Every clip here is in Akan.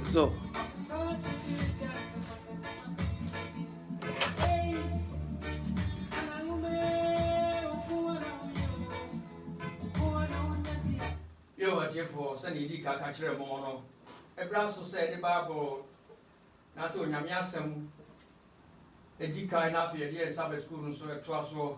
So. Yehowa atiefoɔ, sɛdeɛ yɛdii ka ka kyerɛɛ mo no, bra so sɛ yɛde Bible no ase Onyame Asɛm di kan na afei yɛde yɛn Sabbath School no nso toa soɔ.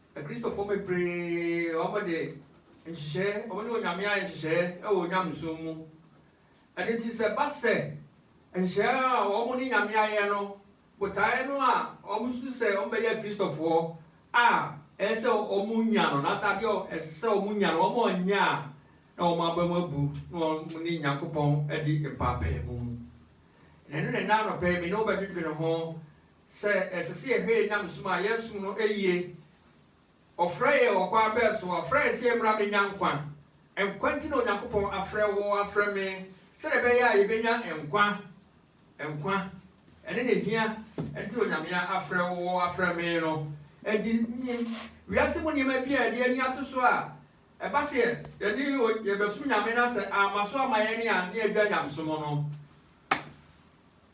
Akristofoɔ bebree wɔde nhyehyɛɛ, wɔne Onyame ayɛ nhyehyɛɛ wɔ Onyamesom mu. Ɛno nti sɛ ɛba sɛ nhyehyɛɛ a wɔn ne Nyame ayɛ no botaeɛ no a wɔn su sɛ wɔn bɛyɛ Akristofoɔ a ɛyɛ sɛ wɔn nya no, na sɛ adeɛ ɛsɛ sɛ wɔn nya no wɔn annya a, na wɔn aba mu abu na wɔn ne Nyankopɔn adi mpaapaemu. Na ɛno na ɛnɛ anɔpɛ yi me ne wo bɛdwedwene ho Sɛ ɛsɛ sɛ yɛhwɛ yɛn nyamesom a yɛsom no yie. Ɔfrɛɛ yɛn wɔ kwan bɛn so? Ɔfrɛɛ yɛn sɛ yɛmmra mmɛnya nkwa. Nkwa nti na Onyankopɔn afrɛ wo, afrɛ me, sɛdeɛ ɛbɛyɛ a yɛbɛnya nkwa. Nkwa ne na ɛhia nti na Onyame afrɛ wo, afrɛ me no. Enti nim wiase mu nneɛma bi a yɛde ani ato so a, ɛba sɛ yɛde yɛbɛsom Nyame na sɛ amma so amma yɛn a, na yɛagyae nyamesom no.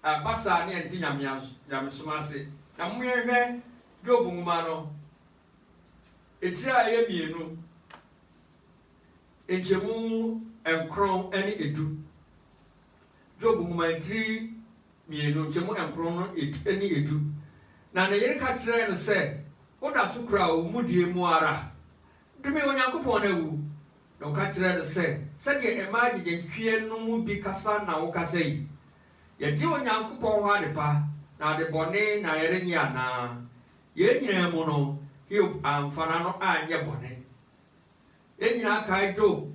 Ɛba saa ne ɛnte nyamesom ase. Na mo yɛnhwɛ Job nwoma no etire a ɛyɛ mmienu nkyɛmu nkron ne edu. Job nwoma etire mmienu nkyɛmu nkron no ne edu. Na ne yere ka kyerɛɛ no sɛ, Woda so kura wo mudie mu ara? Dome Onyankopɔn na wu. Na ɔka kyerɛɛ no sɛ, Sɛdeɛ mmaa gyigyehweɛ no mu bi kasa na wokasa yi, Yɛgye Onyankopɔn hɔ adepa na adebɔne na yɛrennye anaa? Yei nyinaa mu no, Hiob amfa n'ano anyɛ bɔne. Yɛn nyinaa kae Job.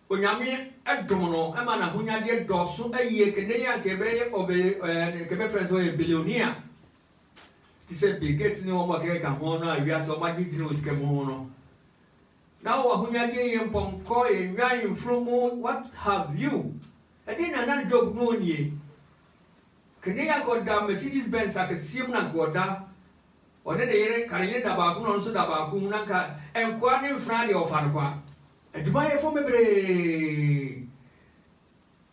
Onyame dom no ma n'ahonyadeɛ dɔɔso yie, kɛnɛ yi a anka yɛbɛyɛ ɔbɛ ɛɛ anka yɛbɛfrɛ no sɛ ɔyɛ billionaire te sɛ Bill Gates ne wɔn a ɛkeka ho no a wiase wɔn agye gyina wɔ sika mu ho no. Na wɔ ahonyadeɛ yie mpɔnkɔ, nnwan, mfunumu, what have you, Ɛdeɛn na na Job mu nnie? Kane anka ɔda Mercedes Benz akɛseɛ mu na anka ɔda, ɔne ne yere, ka ne yere da baako mu na ɔno nso da baako mu, na anka nkoa ne mfenaa deɛ ɔfa no kwa. Adwumayɛfoɔ bebree.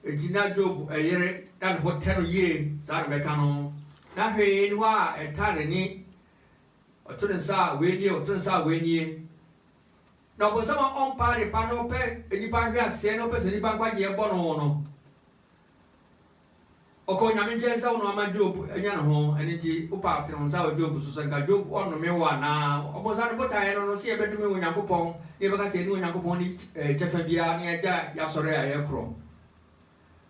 Enti na Job yere na ne ho tɛ no yie, saa na mɛka no. Na hwee nni hɔ a ɛtaa n'ani, ɔto ne nsa a wei nie, ɔto ne nsa a wei nie. Na ɔbonsam a ɔmpɛ adepa na ɔpɛ nnipa nhweaseɛ na ɔpɛ sɛ nnipa nkwagyeɛ bɔ no no, ɔkɔ Onyame nkyɛn sɛ wo na wama Job anya ne ho, ɛno nti wopa atene wo nsa wɔ Job so sɛ nka Job ɔnnome wo anaa? Ɔbonsam ne botaeɛ no no sɛ yɛbɛdome Onyankopɔn na yɛbɛka sɛ yɛne Onyankopɔn nni kyɛfa biara na yɛagya y'asɔre a yɛkorɔ.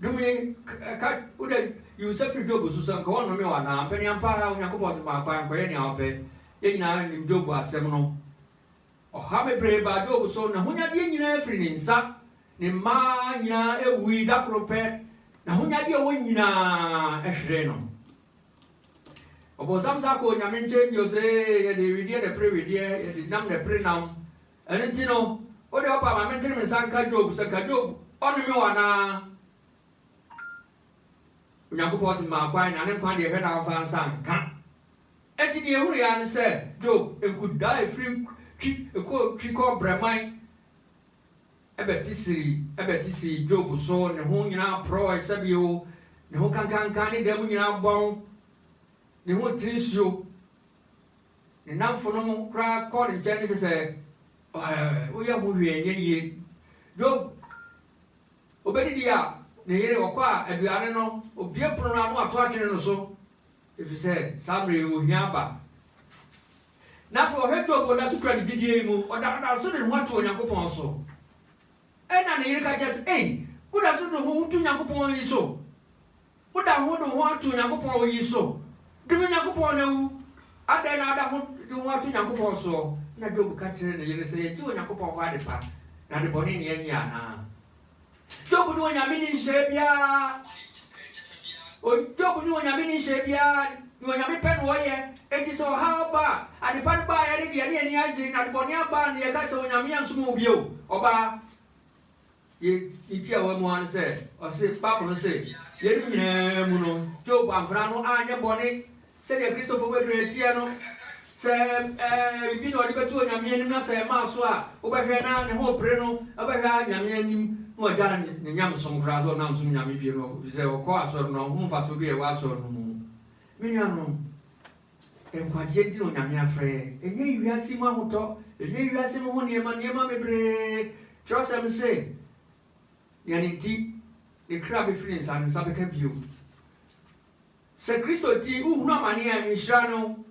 Dome ka wo dɛ yi wo nsa firi Job so sɛ nka ɔnnome wo anaa? Mpɛn ampa ara Onyankopɔn sɛ ma kwan kɔyɛ nea ɔpɛ. Yɛn nyinaa nim Job asɛm no. Ɔhaw bebree baa Job so. N'ahonyadeɛ nyinaa firii ne nsa. Ne mma nyinaa wuui da koro pɛ. N'ahonyadeɛ a ɔwɔ nyinaa hweree no. Ɔbonsam san kɔɔ Onyame nkyɛn bio sɛ, Ee, yɛde wedeɛ na ɛpere wedeɛ, yɛde nam na ɛpere nam. Ɛno nti no, wo deɛ wopɛ a, ma mentene me nsa nka Job sɛ, Ka Job, ɔnnome wo anaa? Onyankopɔn se, Maa kwan, na ne nkwa deɛ, hwɛ na wamfa ansa anka. Enti nea ehuruw yɛn ara ne sɛ Job nkudaa a efiri twi kɔɔ twi kɔɔ brɛman bɛte siri bɛte sii Job so, ne ho nyinaa porɔwee sɛbeoo, ne ho kankankan, ne dan mu nyinaa bɔn, ne ho tiri nsuo. Ne nnamfonom koraa kɔɔ ne nkyɛn te sɛ, Ɔhɛ, woyɛ ho hwee nyɛ yie. Job, obedidi a, ne yere, ɔkɔ a, aduane no, obue pono no a, na wato atwene no so. Efisɛ saa bere yi ohia aba. Na afei ɔhwɛ Job, ɔda so kura ne gyidie yi mu, ɔda ɔda so de ne ho ato Onyankopɔn so. Ɛnna ne yere ka kyerɛɛ sɛ, Ei, woda so de wo ho to Onyankopɔn yi so? Woda ho de wo ho ato Onyankopɔn yi so? Dome Onyankopɔn na wu! Adɛn na woda ho de wo ho ato Onyankopɔn soɔ? Ɛnna Job ka kyerɛɛ ne yere sɛ, Yɛgye Onyankopɔn hɔ adepa, na adebɔne na yɛnyɛ anaa? Job ne Onyame nni nhyehyɛɛ biara Job ne Onyame nni nhyehyɛɛ biara Nea Onyame pɛ na ɔyɛ Enti sɛ ɔhaw ba a, adepa no baeɛ no de yɛne ani agye Na adebɔne aba a na yɛka sɛ Onyame ansom wo bio Ɔbaa yi ne tiawa mu ara ne sɛ ɔse Bible no se yeinom nyinaa mu no Job amfra ano anyɛ bɔne Sɛdeɛ Kristofo bebree teɛ no, sɛ ɛyɛ biribi na ɔde bɛto Onyame anim na sɛ ɛmmaa so a, wobɛhwɛ na ne ho repere no, ɔbɛhwɛ ara Nyame anim na ɔgyaa ne nyamesom koraa sɛ ɔnna nsom Nyame bio no, ɛfiri sɛ ɔkɔ asɔre no, ɔhunu mfasoɔ bi a ɛwɔ asɔre no mu. Me nuanom, nkwagyeɛ nti na Onyame afrɛ yɛn, ɛnyɛ yi wiase yi mu ahotɔ, ɛnyɛ yi wiase mu ho nneɛma, nneɛma bebree. Twerɛsɛm se, Nea ne nti ne kra bɛfiri ne nsa, ne nsa bɛka bio. Sɛ Kristo nti wohunu amane a, nhyira ne wo.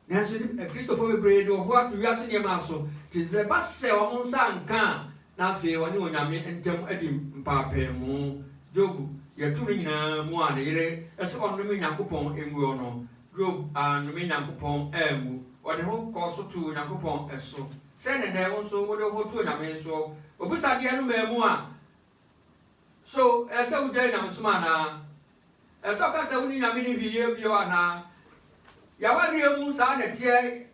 Nanso nnipa, Kristofo bebree de wɔn ho ato wiase nneɛma so, enti sɛ ɛba sɛ wɔn nsa anka a, na afei wɔne Onyame ntam adi mpaapaemu. Job yɛ tumi nyinaa mu a ne yere se ɔnnome Nyankopɔn ngu ɔ no, Job annome Nyankopɔn angu. Ɔde ho kɔɔ so too Onyankopɔn so. Sɛn na nnɛ wo nso wode wo ho to Onyame so? Obusadeɛ no maa mu a, So ɛsɛ sɛ wugyae nyamesom anaa? Ɛsɛ sɛ ɔka sɛ wone Nyame nni hwee yɛ bio anaa? Yɛn awareɛ mu, saa na ɛteɛ.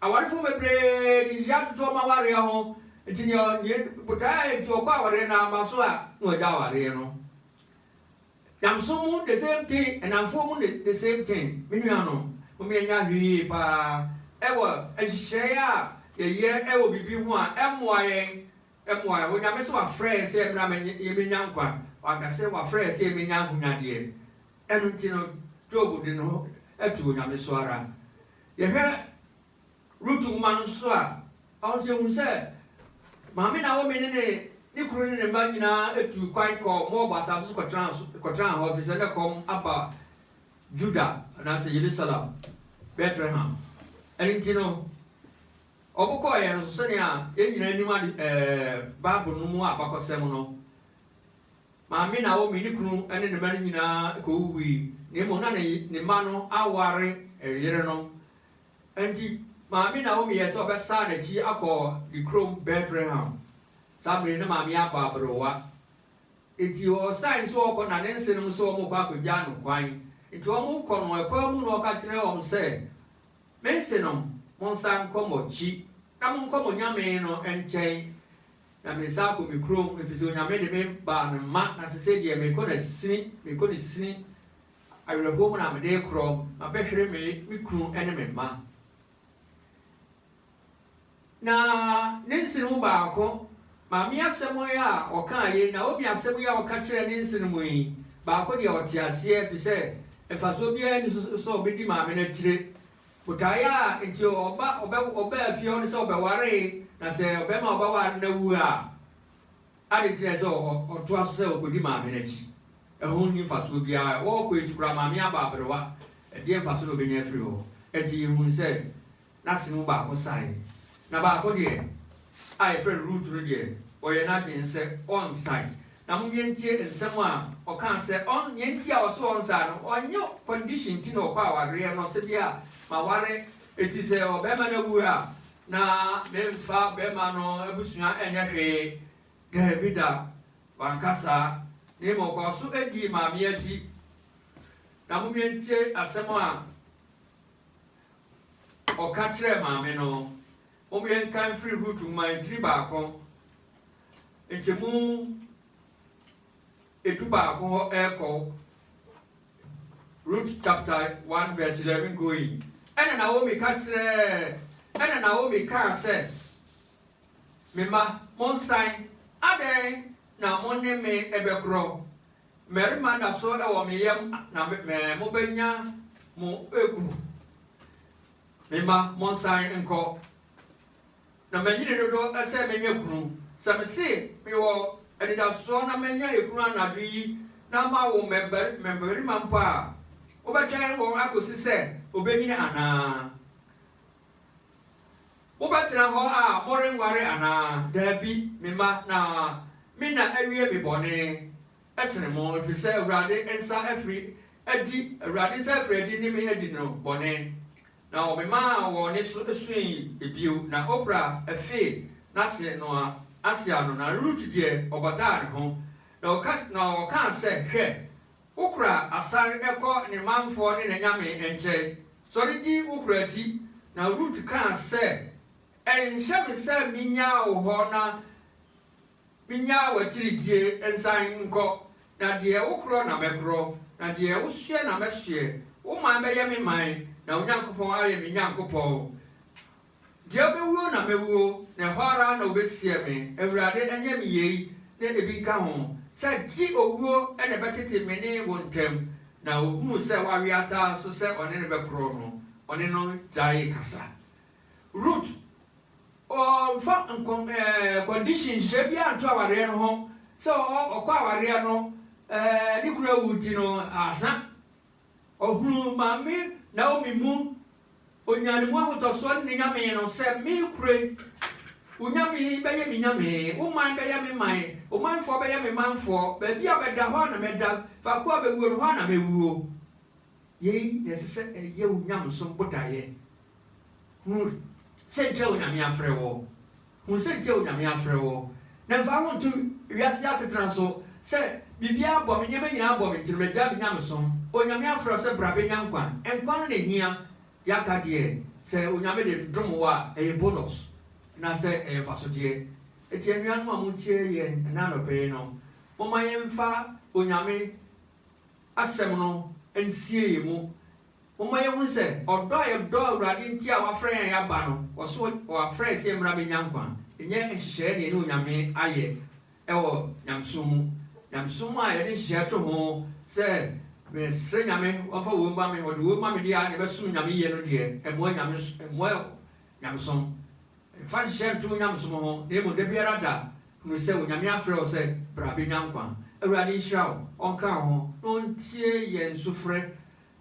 Awarefo bebree de nhyira toto wɔn awareɛ ho, nti nea ɔne botae a enti ɔkɔ awareɛ no aba so a, na wagya awareɛ no. Nyamesom mu, the same thing, nnamfoɔ mu, the same thing. Me nuanom, momma yɛnyɛ ahwɛyie paa wɔ nhyehyɛe a yɛyɛ wɔ biribi ho a ɛmmoa yɛn Mmuae, Onyame se wafrɛ yɛ sɛ mmra yɛmɛnya nkwa, wanka sɛ wafrɛ yɛ sɛ yɛmɛnya ahonyadeɛ. Ɛno nti no Job de ne ho to Onyame so ara. Yɛhwɛ Rut nwoma no nso a, ɔno nso yɛhu sɛ maame Naomi ne ne ne kunu ne ne mma nyinaa tuu kwan kɔɔ Moab asase so kɔtenaa hɔ ɛfiri sɛ na ɛkɔm aba Judah anaasɛ Yerusalem, Bethlehem. Ɛno nti no Wɔbɔkɔɔ yɛn no so sɛnea yɛn nyinaa nim ade ɛɛ Bible no mu abakɔsɛm no. Maame Naomi, ne kunu ne ne mma no nyinaa kowuwui, na mmom na ne ne mma no aware yerenom. Enti Maame Naomi yɛɛ sɛ ɔbɛsan n'akyi akɔ ne kurom Betlehem. Saa bere yi na Maame abɔ aberewa. Enti ɔsan nso ɔkɔ na ne nsenom nso wɔkɔ akogyaa no kwan. Enti wɔkɔ no, ɛkwan mu no ɔka kyerɛɛ wɔn sɛ, Mense no, Monsan nkɔ moakyi, na monkɔ mo Nyame no nkyɛn, na mensan akɔ me kurom, efisɛ Onyame de me baa ne mma, na sesei deɛ mekɔ no asini, mekɔ no sini, awerɛhoɔ mu na mede rekorɔ, mabɛhwere me me kunu ne me mma. Na ne nsene mu baako, Maame asɛm yi a ɔkaa yi, Naomi asɛm yi a ɔka kyerɛɛ ne nsene mu yi, baako deɛ ɔte aseɛ, ɛfiri sɛ mfasoɔ biara nni so sɛ ɔbɛdi maame no akyire. Botaeɛ a enti ɔba, ɔbɛ, ɔbaa fie hɔ no sɛ ɔbɛwaree, na sɛ ɔbarima a ɔbɛware no awu a, adɛn nti na ɛsɛ sɛ ɔ, ɔtoa so sɛ ɔkɔdi maame no akyi? Ɛho nni mfasoɔ biara. Ɔkɔe so koraa, maame aba aberewa. Ɛdeɛn mfasoɔ na ɔbɛnya afiri hɔ? Enti yɛhunu sɛ N'ase mu baako sae, na baako deɛ, a yɛfrɛ no Rut no deɛ, ɔyɛɛ n'adwene sɛ ɔrensae. Na monyɛ ntie nsɛm a ɔkaa sɛ ɔn, nea nti a ɔse ɔrensae no, ɔnyɛ condition nti na ɔkɔ awareɛ no, ɔse bia maware eti sɛ ɔbarima no awu a, na memfa barima no abusua nyɛ hwee. Daabi da, wanka saa, na mmom ɔkɔɔ so dii maame akyi. Na monyɛ ntie asɛm a. Ɔka kyerɛɛ maame no, Mom yɛnka mfiri Rut nwoma ntini baako nkyɛmu edu baako hɔ ɛrekɔ Rut chapter 1 verse 11 going. Ɛna Naomi ka kyerɛɛ ɛna Naomi kaa sɛ, Me mma, monsan, adɛn na mo ne me bɛkorɔ? Mmarima da so wɔ me yam na me me mobɛnya mo kunu. Me mma, monsan nkɔ. Na manyini dodo sɛ mɛnya kunu. Sɛ mese mewɔ anidasoɔ na mɛnya ekunu anadwo yi na mawo mmɛbari mmabarima mpo a, wobɛtwɛn wɔn akɔsi sɛ wɔbɛnyini anaa? Mobɛtena hɔ a morenware anaa? Dabi, me mma, na me na awie me bɔne sene mo, ɛfiri sɛ Awurade nsa afiri adi, Awurade nsa afiri adi ne me adi no bɔne. Na ɔmemaa wɔn nne so sui bio, na Opra fee n'ase no ase ano, na Rut deɛ, ɔbataa ne ho, na ɔkaa sɛ, Hwɛ, Wo kora asan kɔ ne manfoɔ ne n'anyame nkyɛn. Sɔre di wo kora akyi. Na Rut kaa sɛ, Ɛnhyɛ me sɛ menyaa wo hɔ na menyaa w'akyiridie nsan nkɔ. Na deɛ wokorɔ na mɛkorɔ, na deɛ wosoɛ na mɛsoɛ. Wo man bɛyɛ me man, na wo Nyankopɔn ayɛ me Nyankopɔn. Deɛ ɔbɛwuo na mɛwuo, na ɛhɔ ara na wɔbɛsiɛ me, Awurade, ɛnyɛ me yei na ebi nka ho, sɛ gye owuo na ɛbɛtete me ne wo ntam? Na ɔhunuu sɛ wawe ata so sɛ ɔne no bɛkorɔ no, ɔne no gyaee kasa. Rut, ɔmfa nkɔ ɛɛ condition, nhyehyɛɛ biara nto awareɛ no ho, sɛ ɔ, ɔkɔ awareɛ no, ɛɛ ne kunu awu nti no, asa. Ɔhunuu Maame Naomi mu, ɔnyaa ne mu ahotɔsoɔ ne ne Nyame no sɛ, Me kure, wo Nyame yi bɛyɛ me Nyame, wo man bɛyɛ me man, wo manfoɔ bɛyɛ me manfoɔ, baabi a bɛda hɔ ara na mɛda, faako a bɛwuo no hɔ ara na mɛwuo. Yei na ɛsɛ sɛ ɛyɛ wo nyamesom botaeɛ. Hu sɛ nkyɛ Onyame afrɛ wo. Hu sɛ nkyɛ Onyame afrɛ wo. Na mfa wo nto wiase asetena so sɛ biribiara bɔ me, nneɛma nyinaa bɔ me nti no magyae me nyamesom. Onyame afrɛ wo sɛ bra bɛnya nkwa. Nkwa no na ɛhia. Deɛ aka deɛ, sɛ Onyame de dom wo a, ɛyɛ bonus na sɛ ɛyɛ mfasodeɛ. Enti anuanom a motie yɛn ɛnnɛ anɔpa yi no, momma yɛmfa Onyame asɛm no nsie yɛn mu. Momma yɛnhunu sɛ ɔdɔ a yɛdɔ Awurade nti a wafrɛ yɛn aba no, ɔso wafrɛ yɛn sɛ yɛmmra mmɛnya nkwa, ɛnyɛ nhyehyɛeɛ na yɛne Onyame ayɛ wɔ nyamesom mu. Nyamesom a yɛde nhyehyɛeɛ to ho sɛ mesrɛ Nyame ɔmfa woi mma me, ɔde woi ma me deɛ a na ɛbɛsom Nyame yie no deɛ, ɛmmoa Nyame, ɛmmoa nyamesom. Mfa nhyehyɛeɛ nto wo nyamesom ho na mmom dabiara da hunu sɛ Onyame afrɛ wo sɛ bra bɛnya nkwa. Awurade nhyira wo, ɔnka wo ho na ɔntie yɛn sufrɛ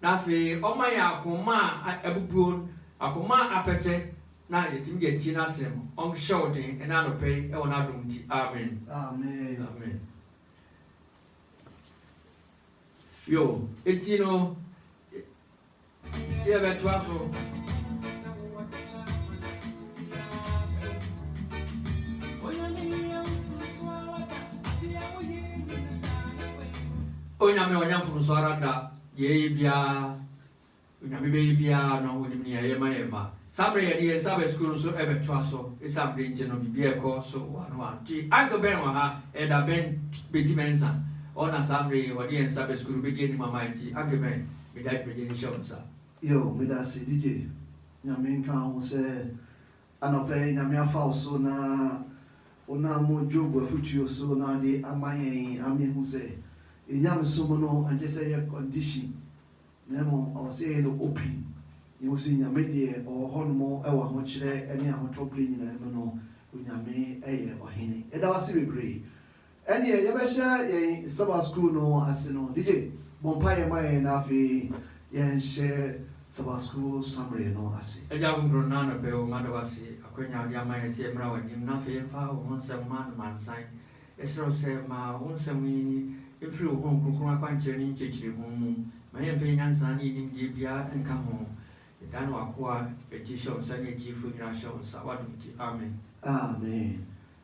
Na afei ɔma yɛn akoma a abubuo, akoma a apɛkyɛ, na yɛtumi de atie N'asɛm. Ɔnhyɛ wo den ɛnnɛ anɔpa yi wɔ N'adom nti. Amen. Amen. Yo, enti no, yɛbɛtoa so. Onyame a wanya mfomsoɔ ara da. Deɛ yɛyɛ biara, Onyame bɛyɛ biara no, Onim nea ɛyɛ ma yɛn mma. Saa berɛ yɛde yɛn nsa bɛ sukuu no nso bɛtoa so. Esiane bere nti no, biribiara rekɔ so one one. Nti Uncle Ben wɔ ha, Elder Ben Betty Mensah, ɔno na saa mmerɛ yi ɔde yɛn nsa bɛ sukuu no bɛdi anim ama yɛn. Nti Uncle Ben, mede adwumadie no hyɛ wo nsa. Yo, medase DJ, Nyame nka wo ho sɛ. Anɔpa yi Nyame afa wo so na wonam Job afotuo so na ɔde ama yɛn ama yɛhu sɛ Nyamesom no ɛnkyɛ sɛ ɛyɛ condition na mmom ɔwɔ sɛ yɛyɛ no open na yɛhu sɛ Nyame deɛ ɔwɔ hɔ nom wɔ ahokyerɛ ne ahotɔ berɛ nyinaa mu no Onyame yɛ Ɔhene. Yɛda wo ase bebree. Ɛnneɛ yɛbɛhyɛ yɛn Sabbath School no ase no. DJ, bɔ mpaeɛ ma yɛn na afei yɛnhyɛ Sabbath School Summary no ase. Agya Ahonkron, nnɛ anɔpa yi, mada wo ase akwanya a wode ama yɛn sɛ yɛmmra w'anim na afei yɛmfa wo ho nsɛm mma no mansan. Yɛsrɛ wo sɛ ma wo nsɛm yi mfiri wo Honhom Kronkron akwankyerɛ ne nkyerɛkyerɛmu mu. Ma yɛmfa yɛn nyansa ne yɛn nimdeɛ biara nka ho. Yɛdane w'akoa Rettie hyɛ wo nsa ne atiefoɔ nyinaa hyɛ wo nsa, w'adom nti. Amen. Amen.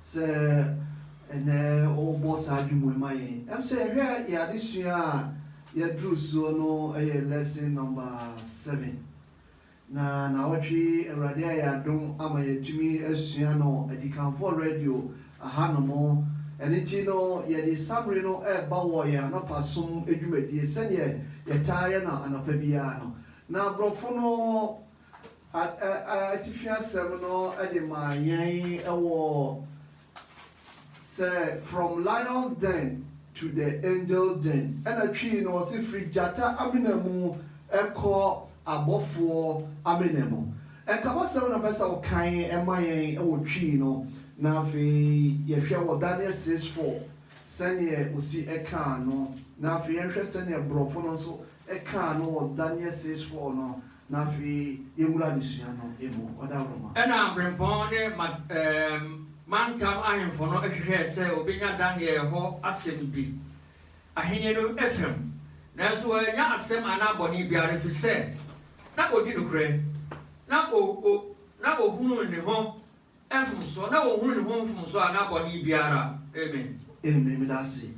Sɛ ɛnnɛ wɔbɔ saa dwom yi ma yɛn a, sɛ yɛhwɛ yɛn adesua a yɛaduru soɔ no yɛ lesson number seven. Na nawɔtwe yi Awurade ayɛ adom ama yɛatumi asua no Adikanfoɔ Radio ahanom. Ɛno nti no yɛde saa mmere no reba wɔ yɛn anɔpa som dwumadie sɛdeɛ yɛtaa yɛ no anɔpa biara no. Na aborɔfo no Atifi asɛm no de ma yɛn wɔ sɛ From lion's den to the angel's den, ɛna Twi no ɔse firi gyata amena mu kɔ abɔfoɔ amena mu. Nkabɔsɛm na ɔpɛ sɛ ɔkan ma yɛn wɔ Twi no, na afei yɛhwɛ wɔ Daniel six four sɛdeɛ ɔsi kaa no, na afei yɛnhwɛ sɛdeɛ Borɔfo no nso kaa no wɔ Daniel six four no Na afei yɛwura adesua no mu. Ɔda hɔ ma. Ɛnna abirɛmpɔn ne ma, ɛɛm, mantam ahemfo no hwehwɛɛ sɛ wɔbɛnya Daniel hɔ asɛm bi, ahenni no fam, nanso wɔannya asɛm anaa bɔne biara, ɛfiri sɛ na ɔdi nokorɛ, na o, o, na ɔhunuu ne ho mfomsoɔ, na ɔnhunuu ne ho mfomsoɔ anaa bɔne biara. Amen. Amen. Meda ase.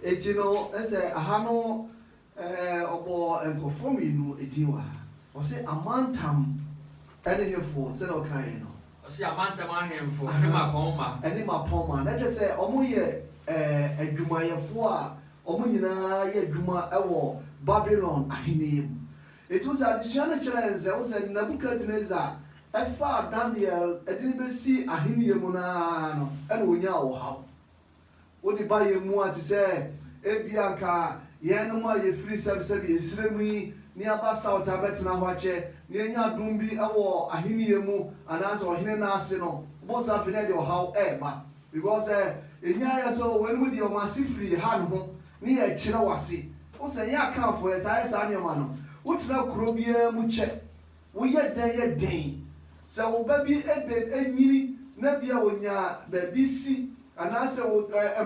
Enti no, ɛsɛ, aha no, Ɛɛ, ɔbɔɔ nkurɔfoɔ mmienu din wɔ ha. Ɔse amantam ne hefoɔ sɛdeɛ ɔkaeɛ no? Ɔse amantam ahemfo ne mmapɔmma. Ne mmapɔmma. Na kyerɛ sɛ wɔyɛ ɛɛ adwumayɛfoɔ a wɔn nyinaa yɛ adwuma wɔ Babilon ahennie mu. Enti wohu sɛ adesua no kyerɛ yɛn sɛ, wohu sɛ Nebukadnesar faa Daniel de no bɛsii ahennie mu no ara no na ɔnyaa ɔhaw. Wo nnipa yɛ mua te sɛ ebia anka yɛnom a yɛfiri sɛbsɛbi nsrɛ mu yi na yɛaba South abɛtena hɔ akyɛ na yɛanya adom bi wɔ ahennie mu anaasɛ ɔhene no ase no, wobɛhu sɛ afei na ɛde ɔhaw reba because sɛ ɛnya yɛ sɛ oh weinom deɛ wɔn ase firi ha noho ne yɛkyerɛ wɔn ase. Wohu sɛ yɛn Akanfoɔ yɛtaa yɛ saa nneɛma no. Wotena kuro biara mu kyɛ Woyɛ dɛn yɛ den sɛ wo ba bi benyini na ebia onya baabi si anaasɛ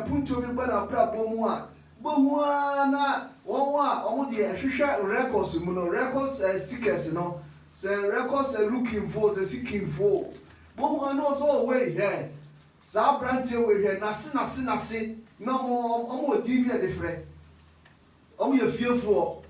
mpontuo bi ba n'abrabɔ mu a, wobɛhu ara na wɔn a wɔn deɛ hwehwɛ records mu no, records seekers no, sɛ records looking foɔ o, sɛ seeking foɔ o, wobɛhu ara na wɔn sɛ oh wei hwɛ saa abranteɛ wei hwɛ n'ase n'ase n'ase na wɔn wɔn wɔ din bi a yɛde frɛ, wɔyɛ fiefoɔ,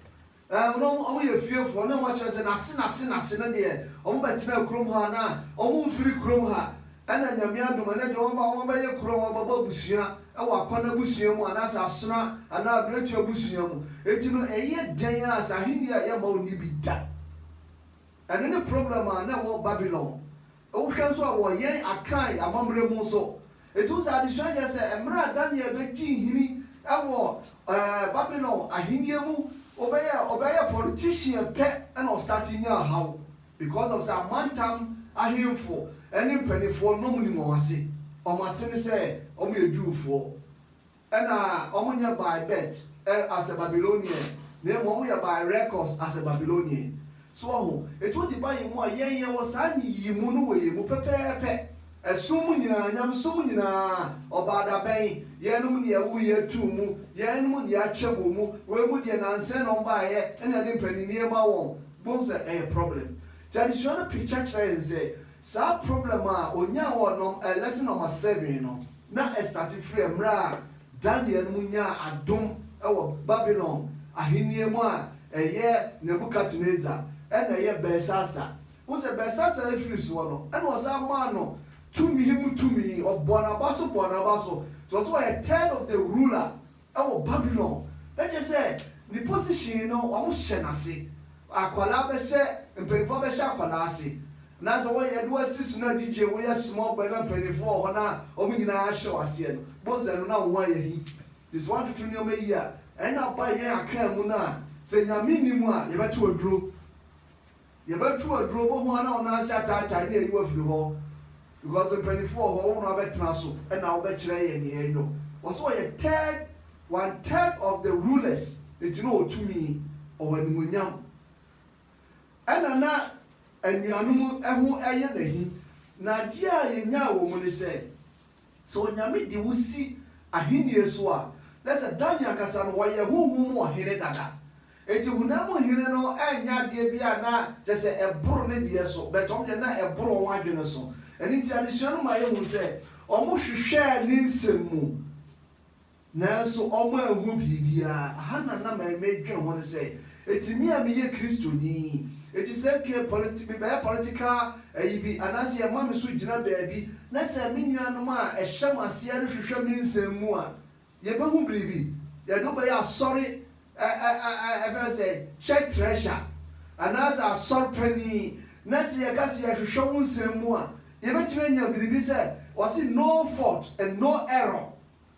Ɛɛ, na wɔn yɛ fiefoɔ, na wɔkyerɛ sɛ n'ase n'ase n'ase no deɛ, wɔbɛtenaa kurom ha, na wɔmfiri kurom ha. Ɛnna Nyame adom, ɛnnɛ deɛ wɔaba, wɔabɛyɛ kuro a wɔabɛbɔ abusua wɔ Akwan abusua mu, anaasɛ Asena anaa Abirekyie abusua mu. Enti no, ɛyɛ dɛn ara sɛ Ahennie a yɛmma ɔnni bi da. Ɛno ne problem a na ɛwɔ Babilon. Wohwɛ nso a, wɔ yɛn Akan amammerɛ mu nso, ɛtumi sɛ adesua yɛ sɛ mmerɛ a Daniel bɛgyee nhini wɔ Babylon ahennie mu, wobɛyɛɛ ɔbɛyɛɛ politician pɛ na ɔstate nyaa haw because of sɛ amantam ahemfo ne mpaninfoɔ na wɔnim wɔn ase. Wɔn ase ne sɛ wɔyɛ Jewfoɔ. Nna wɔnnyɛ by birth er as a Babylonian, na mmom wɔyɛ by records as a Babylonian. So wɔho? Enti wɔde ba yɛn mu a, yɛn yɛwɔ saa nyiyimu no wɔ yɛn mu pɛpɛɛpɛ. Ɛsom mu nyinaa, nyamesom mu nyinaa, Ɔbaadabɛn, yɛnom ne yɛwoo yɛn too mu, yɛnom ne yɛakyɛm wɔ mu, wei mu deɛ nansa na wɔbaeɛ na yɛde mpaninnie rema wɔn. Bohu sɛ ɛyɛ problem? Nti adesua no picture kyerɛ yɛn sɛ saa problem a wɔnyaa wɔ nom er lesson nɔma seven no, Na ɛstate firi mmerɛ a Daniel mu nyaa adom wɔ Babilon ahennie mu a ɛyɛ Nebukadnesar ɛna ɛyɛ Belsasar. Wohu sɛ Belsasar ɛfiri soɔ no ɛna ɔsan maa no tumi mu tumi, ɔbɔɔ n'aba so bɔɔ n'aba so, nti ɔse ɔyɛ third of the ruler. Ɛwɔ Babylon na kyerɛ sɛ ne position no wɔn hyɛ no ase akwadaa bɛhyɛ mpaninfoɔ bɛhyɛ akwadaa ase na sɛ wɔyɛ de wasi so na DJ wo yɛ small boy na mpaninfoɔ wɔ hɔ na wɔn nyinaa ahyɛ wo aseɛ no bɔsɛ no na wo ho ayɛ he nti sɛ woantoto nneɛma yie a ɛna ba yɛn akaa mu no a sɛ Nyame nni mu a yɛbɛto aduro. Yɛbɛtu aduro bɔ ho a na wo nan ase ataatae na yɛayi wo afiri hɔ because mpaninfoɔ wɔ hɔ, wo na wobɛtena so na wobɛkyerɛ yɛn deɛ yɛnyɔ. Ɔse ɔyɛ third, one third of the rulers nti na ɔwɔ tumi, ɔwɔ animuonyam. Ɛna na anuanom ho yɛ no ahi. Na adeɛ a yɛnyaa wɔ mu ne sɛ Sɛ Onyame de wo si ahenni so a, na sɛ Daniel ankasa no, ɔyɛ honhom mu ɔhene dada. Enti honam mu hene no nyɛ adeɛ bi a na kyerɛ sɛ ɛboro ne deɛ so, but wɔn deɛ na ɛboro wɔn adwene so. Ɛno nti adesua no ma yɛhu sɛ wɔhwehwɛɛ ne nsɛm mu Nanso wɔanhu biribiara. Aha na na meredwen ho ne sɛ, enti me a meyɛ Kristoni, enti sɛ okay politi mebɛyɛ political ayi bi anaasɛ yɛma me so gyina baabi na sɛ me nuanom a ɛhyɛ mo aseɛ no hwehwɛ me nsɛm mu a, yɛbɛhu biribi? Yɛde wo bɛyɛ asɔre ɛ ɛ ɛ ɛ ɛfrɛ no sɛ church treasurer anaasɛ asɔre panin na sɛ yɛka sɛ yɛhwehwɛ wo nsɛm mu a, yɛbɛtumi anya biribi sɛ wɔse no fault and no error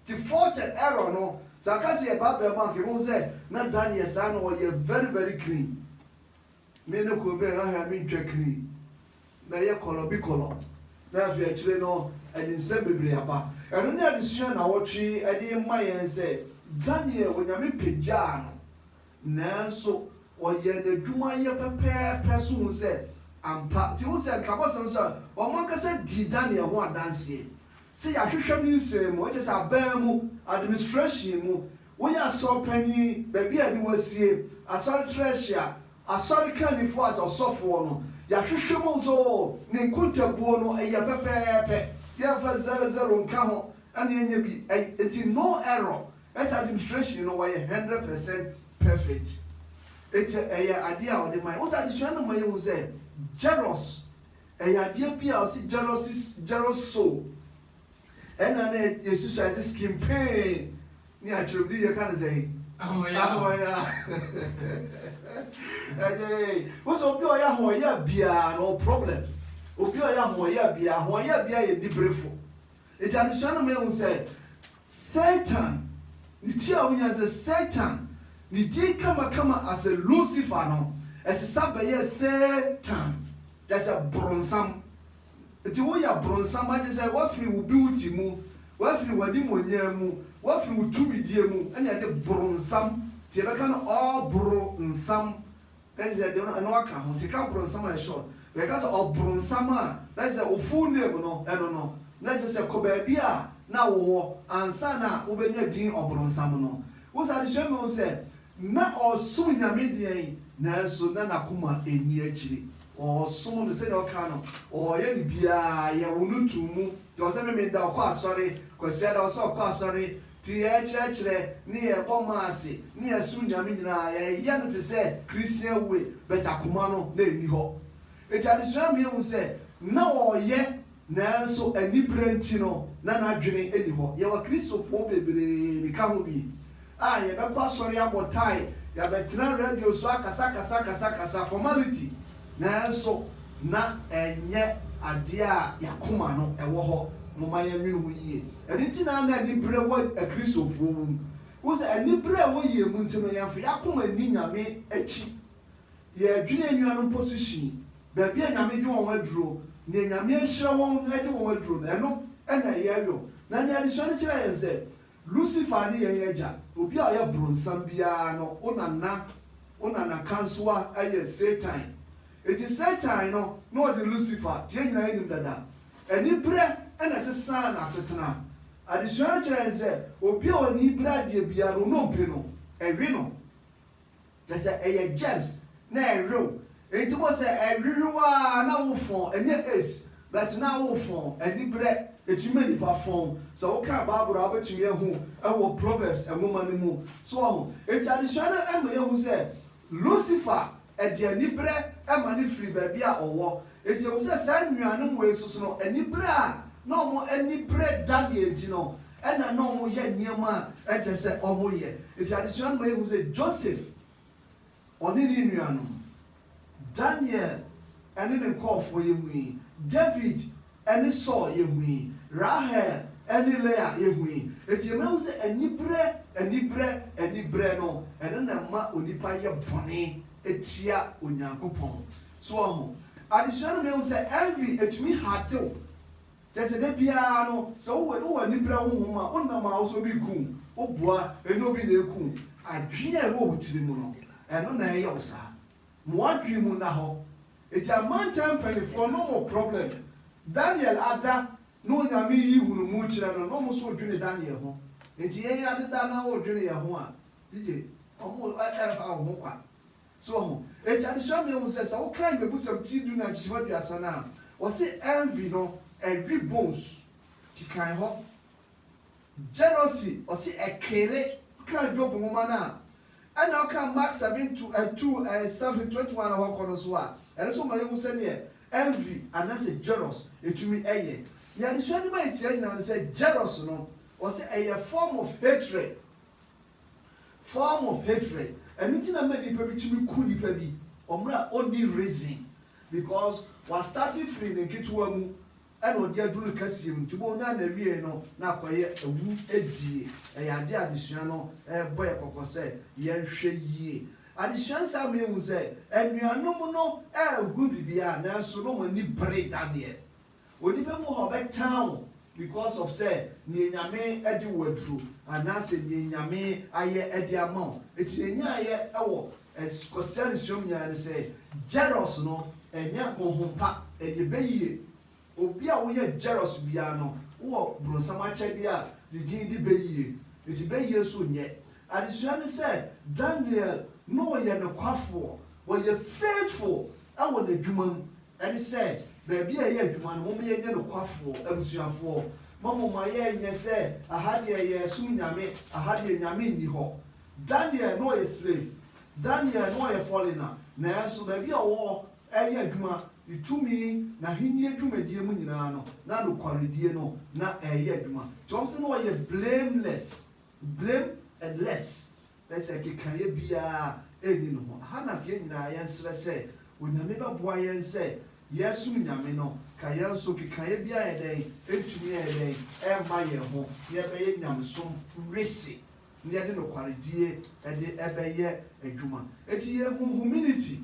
Te forte error no sɛ aka sɛ yɛ bible mu anka yɛbɛhu sɛ na Daniel saa na ɔyɛ very very clean me ne kuro bɛn ahwɛ a me ntwa clean mɛyɛ kɔlɔ bi kɔlɔ na afei akyire no ɛde nsɛm bebree aba ɛno ne adesua nawɔtwe ɛde ma yɛn sɛ Daniel onyame pagyaa no nanso ɔyɛɛ nadwuma yɛ pɛpɛɛpɛ so hu sɛ ampa nti hu sɛ nka abɔsɛm nso a ɔmo ankasa dii Daniel ho adanseɛ Sɛ yɛahwehwɛ ne nsɛm mu, kyerɛ sɛ aban mu, administration mu, woyɛ asɔr panyin, baabi a yɛde wo asie, asɔre trɛhyea, asɔre kannifoɔ as ɔsɔfoɔ no, yɛahwehwɛ mu ahu sɛ oo, ne nkontabuo no yɛ pɛpɛɛpɛ, yɛmfa zero zero nka ho na yɛanya bi, enti no error, ɛsɛ sɛ administration no wɔyɛ hundred percent perfect. Enti ɛyɛ adeɛ a wɔde ma yɛn. Wohu sɛ adesua no ma yɛhu sɛ Jairus, Ɛyɛ adeɛ bi a ɔse Jerosis Jeroso ɛna na yɛsusuae sɛ skin pain ne akyerɛmde yɛka no sɛn? Ahoɔyaa. Ahoɔyaa. Ɛyɛ wosɛ obi a ɔyɛ ahoɔyaa biara no ɔwɔ problem. Obi a ɔyɛ ahoɔyaa biara, ahoɔyaa biara yɛ aniberefo. Enti adesua no ma yehu sɛ Satan, ne ti a wonya sɛ Satan, ne din kamakama ase Lucifer no, ɛsesa bɛyɛɛ Satan, kyerɛ sɛ Bronsam. Enti woyɛ abronsam a, kyerɛ sɛ woafiri wo beauty mu, woafiri w'animuonyam mu, woafiri wo tumidie mu, ɛnna ɛde bronsam, nti yɛbɛka no ɔbronsam, na kyerɛ sɛ deɛ no ɛno aka ho nti ka bronsam a ɛhyɛ ɔno but yɛka sɛ ɔbronsam a na kyerɛ sɛ wo full name no ɛno no na kyerɛ sɛ kɔ baabi a na wo wɔ ansa na wo bɛnya din ɔbronsam no wo sɛ adesua mɛhu sɛ na ɔresom Nyame deɛn nanso na nakoma ɛnni akyire ɔresom no sɛdeɛ ɔka no ɔreyɛ ne biara yɛ wo no too mu nti ɔsɛ me meda ɔkɔ asɔre Kwasiada ɔsɛ ɔkɔ asɔre Te yɛn kyerɛkyerɛ ne yɛn bɔ mma ase ne yɛn som Nyame nyinaa yɛ yɛ no te sɛ Christian wue but akoma no na ɛnni hɔ. Enti adesua me ahu sɛ na ɔyɛ nanso anibere nti no na n'adwene nni hɔ. Yɛwɔ Kristofoɔ bebree, me ka ho bi, a yɛbɛkɔ asɔre abɔ tae, yɛabɛtena radio so akasa kasa kasa kasa, formality, Nanso na ɛnyɛ adeɛ a yɛn akoma no wɔ hɔ. Momma yɛnnwene ho yie. Ɛno nti na na aniberɛ wɔ Akristofoɔ mu. Wohu sɛ, aniberɛ a ɛwɔ yɛn mu nti no, yɛmfa yɛn akoma nni Nyame akyi. Yɛdwene anuanom position, baabi a Nyame de wɔn aduro, deɛ Nyame ahyira wɔn de wɔn aduro no, ɛno na yɛyɔ. Na nea adesua no kyerɛ yɛn sɛ, Lucifer ne yɛn agya, obi a ɔyɛ bronsam biara no, wo nana, wo nana kansowa yɛ Satan. Enti Satan no na ɔde Lucifer, deɛ yɛn nyinaa yɛnim dada, aniberɛ na ɛsesaa n'asetena. Adesua no kyerɛ yɛn sɛ, obi a ɔ'ani bere adeɛ biara no, ɔne ɔbiri no, ɛwe no. Kyerɛ sɛ ɛyɛ germs na ɛrew enti bohu sɛ ɛrerew aa na wo fɔn ɛnyɛ aids but na wo fɔn anibrɛ ɛtumi ma nipa fɔn sɛ wo kan bible a wobɛtumi ahu ɛwɔ proverbs nwoma no mu so wahu enti adesua no ɛma yɛhu sɛ lucifer ɛde anibrɛ ɛma no firi baabi a ɔwɔ enti yɛhu sɛ saa nnuanom wei nso so no anibrɛ a na ɔmo anibrɛ da deɛ nti no Ɛna na ɔmo yɛ nneɛma a ɛkyɛ sɛ ɔmo yɛ. Enti adesua no ma yɛhu sɛ Joseph, ɔne ne nuanom, Daniel ɛne ne nkɔɔfoɔ yɛ hui, David ɛne Saul yɛ hui, Rahel ɛne Leah yɛ hui. Enti yɛma yɛhu sɛ anibrɛ, anibrɛ, anibrɛ no ɛno na ɛma onipa yɛ bɔne tia Onyankopɔn. So wahu? Adesua no ma yɛhu sɛ envy ɛtumi hurte wo. Kyerɛ sɛ, da biara no, sɛ wowɔ wowɔ anibere honhom a, wonam a wosɛ obi nku wo, wobua, ɛnyɛ obi na ɛku wo. Adwene a ɛwɔ wo tiri mu no, ɛno na ɛyɛ wo saa. Ma w'adwene mu nna hɔ. Enti amantam mpanimfoɔ, no mo problem, Daniel ada ne Onyame yi hunumu kyerɛ no, no mo nso redwene Daniel ho. Enti yɛn adeda na woredwene yɛn ho a, yiye, wɔn ɛremma wo ho kwa. So wahu? Enti adesua no yɛhu sɛ, sɛ wokan Mmebusɛm ti du na nkyekyem aduasa no a, wɔse envy no, ɛwe bones ti kan hɔ. Jealousy, ɔse ɛkeele. Wokan Job nwoma no a, ɛna wokan Mark seven to eh, two eh, seven, twenty one hɔ kɔ no nso a, ɛno nso ma yɛhu sɛdeɛ envy anaasɛ jealous ɛtumi ɛyɛ. Nea adesua no ma yɛtiaɛ nyinaa ne sɛ, jealous no, wɔse ɛyɛ form of hatred. Form of hatred, Ɛno nti na ɛma nipa bi tumi ku nipa bi wɔ mmerɛ a ɔnni reason because wa start firi ne nketewa mu ɛna ɔde aduru ne kɛseɛ mu nti wobɛhu no a na awieɛ no na akɔyɛ awu die. Ɛyɛ adeɛ a adesua no rebɔ yɛ kɔkɔ sɛ yɛnhwɛ yie. Adesua no saa ma yɛhu sɛ anuanom no rehunu biribiara nanso na wɔn ani bere da deɛ Onipa mu hɔ bɛtan wo because of sɛ neɛ Nyame de wo aduro anaasɛ neɛ Nyame ayɛ de ama wo. Nti neɛ nyaeɛ wɔ Kwasida no suom nyinaa ne sɛ jealous no ɛnyɛ honhom pa, ɛyɛ bɛyie. Obi a woyɛ jealous biara no wowɔ bronsam akyɛdeɛ a ne din de bɛyie. Nti bɛyie nso nyɛ adesua ne sɛ Daniel no yɛ nokwafoɔ, ɔyɛ faithful wɔ n'adwuma mu Ɛne sɛ, baabi a yɛyɛ adwuma no, momma yɛnyɛ nokwafoɔ. Abusuafoɔ, mommoma yɛnnyɛ sɛ, aha deɛ yɛresom Nyame, aha deɛ Nyame nni hɔ. Daniel, na ɔyɛ slave. Daniel, na ɔyɛ foreigner. Nanso, baabi a ɔwɔ reyɛ adwuma, ne tumi, n'ahennie dwumadie mu nyinaa no, na nokwaredie no na ɛreyɛ adwuma. Nti wɔse na ɔyɛ blameless. Blameless, that is, nkekaeɛ biara nni ne ho. Ɛha na yɛn nyinaa yɛnsrɛ sɛ Onyame bɛboa yɛn sɛ yɛresom Nyame no, ka yɛn nso nkekaeɛ biara yɛ dɛn, ɛntumi ɛyɛ dɛn, ɛmma yɛn ho, na yɛbɛyɛ nyamesom wese, na yɛde nokwaredie ɛde ɛbɛyɛ adwuma. Enti yɛn humanity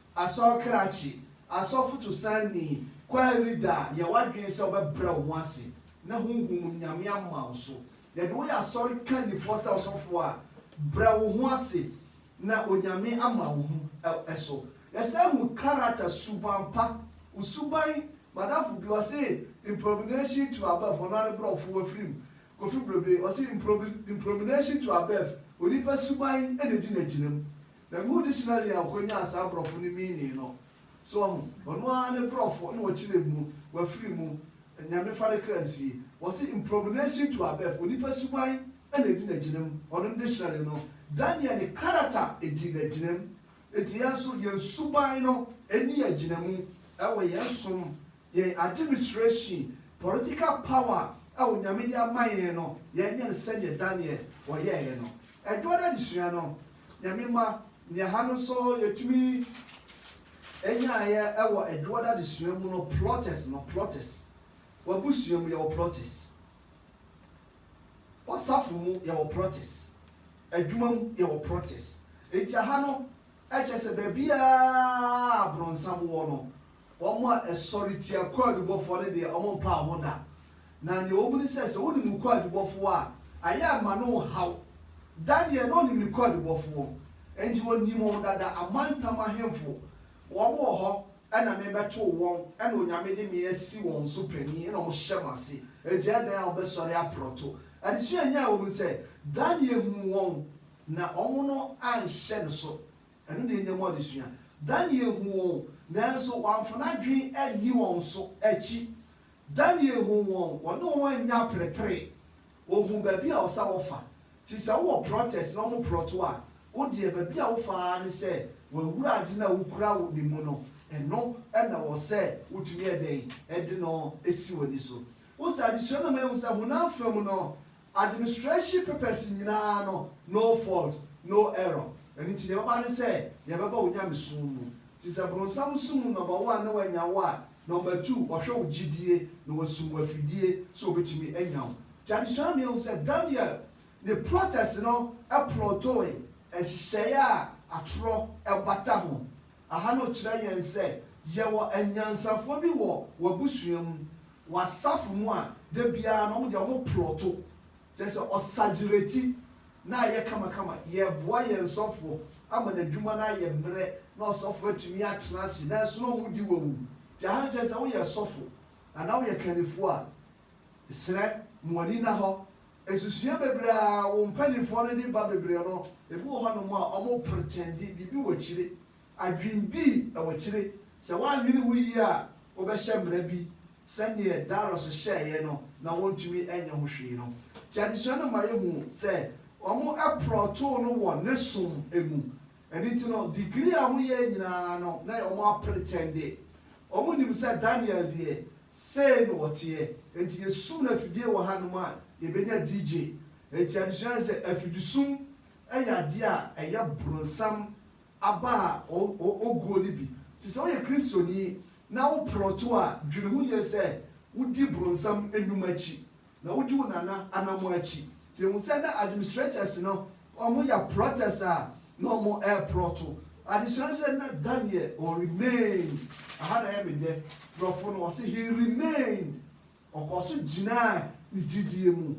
Asɔr krakye, asɔfo tosanyi, choir leader a yɛ w'adwen sɛ wɔbɛbrɛ wo ho ase na honhom mu Nyame ama wo so. Yɛde wo yɛ Asɔr kanyifoɔ sɛ ɔsɔfoɔ a brɛ wo ho ase na Onyame ama wo ho so. Yɛsan hu character, suban pa, wo suban Madamfo bi ɔse impromination to above, ɔno ara ne brɔfo wafiri mu, Kofi Brobey, ɔse impromination to above, onipa suban na edi no agyina mu. Na mehu dictionary a ɔkɔnyaa saa brɔfo no meaning no. So wahu? Ɔno ara ne brɔfo na ɔkyerɛɛ mu, wafiri mu, Nyame fa ne kra nsie. Wɔse imprognation to above, onipa suban na ɛdi no agyinam. Ɔno ne dictionary no. Daniel ne character dii no agyinam. Enti yɛn nso yɛn suban no nni yɛn agyinamu wɔ yɛn som, yɛn administration, political power a Onyame de ama yɛn no, yɛnyɛ no sɛdeɛ Daniel ɔyɛeɛ no. Ɛdɔ no adesua no, Nyame mma, nea ha no nso yɛtumi nyaeɛ wɔ ɛdɔ no adesua mu no, plotters no, plotters. W'abusua mu yɛwɔ plotters. W'asafo mu yɛwɔ plotters. Adwuma mu yɛwɔ plotters. Enti aha no kyerɛ sɛ baabiara a abronsam wɔ no, wɔn a ɛsɔretia kwaadubɔfoɔ no deɛ wɔmpaa ho da. Na nea ohu ne sɛ, sɛ onim ne kwaadubɔfoɔ a, ayɛ ama no ɔhaw. Da deɛ, na ɔnim ne kwaadubɔfoɔ, enti ɔnim wɔn dada, amantam ahemfo, wɔwɔ hɔ, ɛna mebɛtoo wɔn, ɛna Onyame de me asi wɔn so panin, ɛna wɔhyɛ m'ase. Enti adɛn a wɔbɛsɔre aprɔto? Adesua a ɛnyae wɔ mu ne sɛ, Daniel huu wɔn, na wɔn no anhyɛ ne so. Ɛno na ɛnya mu adesua. Daniel huu wɔn, nanso wamfa n'adwene anni wɔn so akyi. Daniel huu wɔn, wɔne wɔn annya aperepere, wɔhuu baabi a ɔsɛ a wɔfa. Nti sɛ wowɔ plotters na wɔn plot wo a, wo deɛ baabi a wofa ara ne sɛ w'awura ade no a wokura wo ne mu no, ɛno na wɔ sɛ wotumi yɛ dɛn de no si w'ani so. Wohu sɛ adesua no ma yɛhu sɛ honam fam no, Administration papers nyinaa no no fault no error ɛno nti deɛ ɛbɛba ne sɛ yɛbɛba wo nyamesom mu nti sɛ bronsam som mu number one na wanya wo a number two ɔhwɛ wo gyidie na wasum wo afidie sɛ ɔbɛtumi anya wo nti adesua no yɛhu sɛ Daniel ne plotters no plottoe nhyehyɛeɛ a atorɔ bata ho aha no kyerɛ yɛn sɛ yɛwɔ anyansafoɔ bi wɔ w'abusua mu wɔ asafo mu a da biara no wɔn deɛ wɔn plɔto kyerɛ sɛ ɔsagyerɛti na ayɛ kamakama yɛboa yɛn sɔfoɔ ama n'adwuma no ayɛ mmerɛ na ɔsɔfoɔ atumi atena ase nanso na wɔn di wawu nti aha no kyerɛ sɛ woyɛ sɔfo anaa woyɛ kannifoɔ a serɛ mo ani na hɔ nsusua bebree a wɔn mpaninfoɔ no de ba bebree no ebi wɔ hɔ nom a wɔn pretɛnde biribi wɔ akyire Adwene bi na wɔkyere. Sɛ wɔannwene ho yie a, wɔbɛhyɛ mmara bi sɛdeɛ Darius hyɛɛeɛ no na wɔntumi nyɛ ho hwee no. Nti adesua no ma yɛhu sɛ wɔprɔtoo no wɔ ne som mu. Ɛno nti no, degree a wɔyɛɛ nyinaa no, na ɛyɛ wɔn apretɛnde. Wɔnnim sɛ Daniel deɛ, sei na ɔteɛ. Enti yɛsum no afidie wɔ hanom a, yɛbɛnya DJ. Enti adesua no sɛ, afidisum yɛ adeɛ a ɛyɛ bronsam. aba a oguo no bi. Nti sɛ woyɛ Kristoni na wo prɔto a, dwene ho yie sɛ wodi bronsam nnwuma akyi, na wodi wo nana anammɔn akyi. Yɛhu sɛ na administrators no wɔyɛ prɔters a na wɔreprɔto. Adesua no sɛ na Daniel ɔ remain, aha na ɛyɛ me dɛ, brɔfo no wɔse he remained, ɔkɔɔ so gyinaa ne gyidie mu.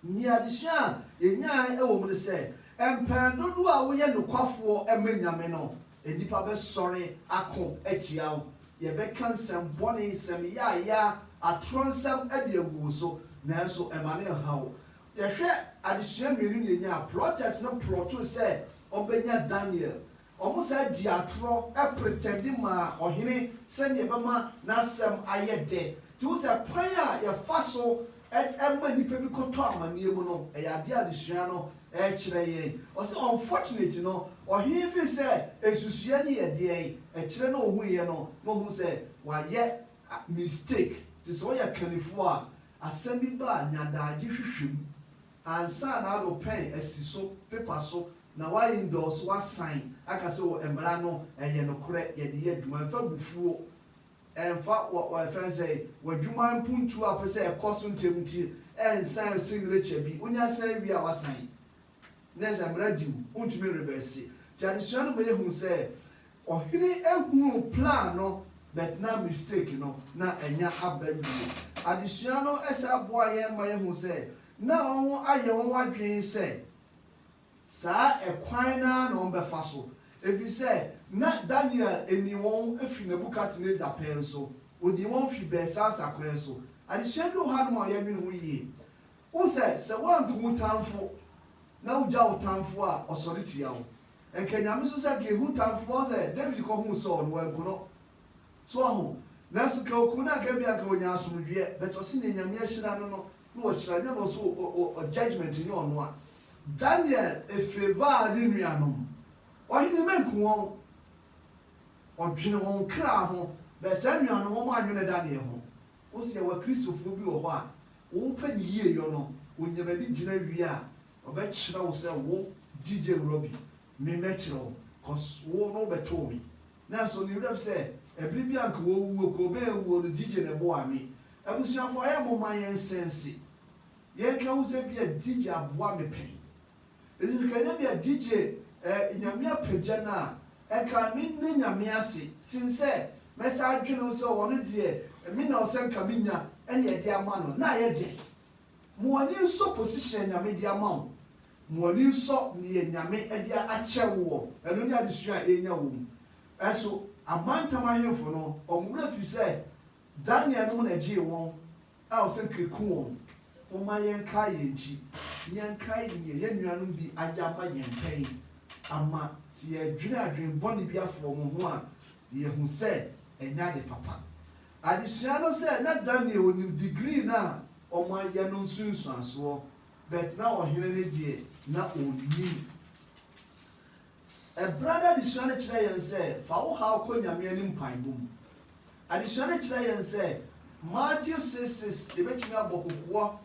Nea adesua a yenyae wɔ mu ne sɛ, mpɛn dodow a woyɛ nokwafoɔ ma Nyame no, nnipa bɛsɔre ako atia wo. Yɛbɛka nsɛm bɔne, nsɛm yaayaa, atorɔ nsɛm de agu wo so, nanso mma no nha wo. Yɛhwɛ adesua mmienu na yɛnyae a, plɔtɛs no plɔtoo sɛ wɔbɛnya Daniel, Wɔsan dii atorɔ pretɛnde maa ɔhene sɛdeɛ ɛbɛma n'asɛm ayɛ dɛ. Nti wohu sɛ kwan a yɛfa so ma nnipa bi kɔtɔ amanneɛ mu no, ɛyɛ adeɛ a adesua no kyerɛ yɛn. Ɔse unfortunately no, ɔhene firi sɛ nsusuiɛ no yɛ deɛn? Ɛkyerɛ na ɔhuiɛ no na ɔhu sɛ wayɛ mistake. Nti sɛ woyɛ kannifoɔ a, asɛm bi ba a, nya adagye hwehwɛ mu. Ansa na ano pɛn asi so pepa so na wa endorse wasan aka sɛ o mmara no ɛyɛ nokorɛ yɛde yɛ adwuma ɛmfa abufuo ɛmfa wɔ wɔ ɛfɛn sɛ wadwuma mpuntuo a pɛsɛ ɛkɔ so ntɛm nti ɛnsan signature bi wonya san wie a wasan ne sɛ mmara di wo wontumi nreverse nti adesua no ma yɛhunu sɛ Ɔhene hunuu plan no but na mistake no na anya aba bio. Adesua no san boa yɛn ma yɛhu sɛ na wɔayɛ wɔn adwene sɛ saa ɛkwan no ara na wɔbɛfa so efisɛ na Daniel nim wɔn fi Nebukadnesar pɛn so, onim wɔn fi Belsasar pɛn so. Adesua bi wɔ hanom a yɛdwene ho yie. Wohu sɛ, sɛ woanku wo tamfo na wugya wo tamfo a, ɔsɔre tia wo. Nka Nyame so sɛ nka ehu tamfoɔ sɛ David kɔ huu Saul no wanku no. So waho? Nanso nka okuu no a nka ebia nka onya asomdweɛ but ɔse neɛ Nyame ahyira no no na wahyira nyɛ no so ɔ judgement nyɛ ɔno a. Daniel favour ne nuanom. Ɔhene manku wɔn. Ɔdwene wɔn kra ho but saa nuanom wɔn annwene Daniel ho. Wo se yɛwɔ akristofoɔ bi wɔ hɔ a wɔpɛ ne yieyɔ no wɔnya baabi gyina wie a Ɔbɛkyerɛ wo sɛ wo gyigye wura bi, me mɛkyerɛ wo, cos wo na wobɛtoo me. Nanso ne wura bi sɛ ɛbere bi a nka ɔrewu a kuro bɛn awuo no gyigye na ɛboaa me. Abusuafoɔ ɛyɛ momma yɛn sɛnse yɛn ka hu sɛ bia gyigye aboa me pɛn. Ɛfiri sɛ ka nyɛ bia gyigye eh Nyame apagya no a ɛka me nna Nyame ase sen sɛ mɛsan adwene ho sɛ ɔno deɛ me na ɔsɛ nka me nya ɛne ɛde ama no na ayɛ den. Ma w'ani nsɔ position a Nyame de ama wo, ma w'ani nsɔ deɛ Nyame de akyɛ wo wɔ ɛno ne adesua a ɛrenya wɔ mu so. Amantam ahemfo no, wɔn werɛ firi sɛ Daniel nom na ɛgyee wɔn a wɔsɛ nkeku wɔn. Momma yɛnkae yɛn akyi, na yɛnkae deɛ yɛn nuanom bi ayɛ ama yɛn pɛn, ama sɛ yɛdwene adwene bɔne bi afa wɔn ho a, yɛahu sɛ ɛnyɛ ade papa. Adesua no sɛ na Daniel nim degree no a wɔayɛ no nsunsuansoɔ but na ɔhene no deɛ na ɔnnim. Ɛberɛ no adesua no kyerɛ yɛn sɛ fa wo haw kɔ Nyame anim mpaebɔ mu. Adesua no kyerɛ yɛn sɛ Matthew six six yɛbɛtumi abɔ kokoɔ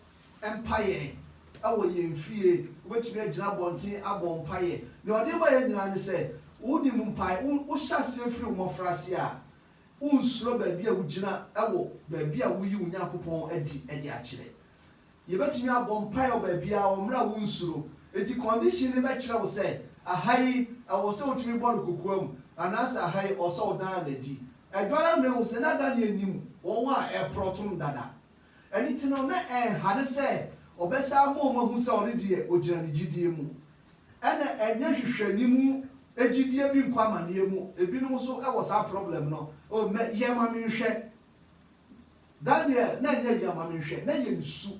mpaeɛ wɔ yɛn fie, wobɛtumi agyina abɔnten abɔ mpaeɛ. Deɛ ɔde ma yɛn nyinaa ne sɛ wonim mpae, wo hyɛ aseɛ firi wo mmɔfra aseɛ a Wonsuro baabi a wugyina wɔ baabi a wuyi wo Nyankopɔn adi de akyerɛ. Yebetumi abɔ mpae wɔ baabiara wɔ mmere a wonsuro. Enti kɔndihyin no bɛkyerɛ wo sɛ aha yi ɛwɔ sɛ wotumi bɔ no kokoam anaasɛ aha yi ɛwɔ sɛ wodan no adi. Ɛdɔre amena ahu sɛ na Daniel nim wɔn a ɛreporɔwtom dada. Ɛno nti no, na ɛnha no sɛ ɔbɛsan ama wɔahu sɛ ɔno deɛ ogyina ne gyidie mu. Ɛna ɛnyɛ hwehwɛni mu gyidie bi nkɔ amaneɛ mu. Ebinom nso wɔ saa problem no. Oh mɛ yɛ ma me nhwɛ. Daniel na ɛnyɛ yɛ ma me nhwɛ, na ɛyɛ ne su.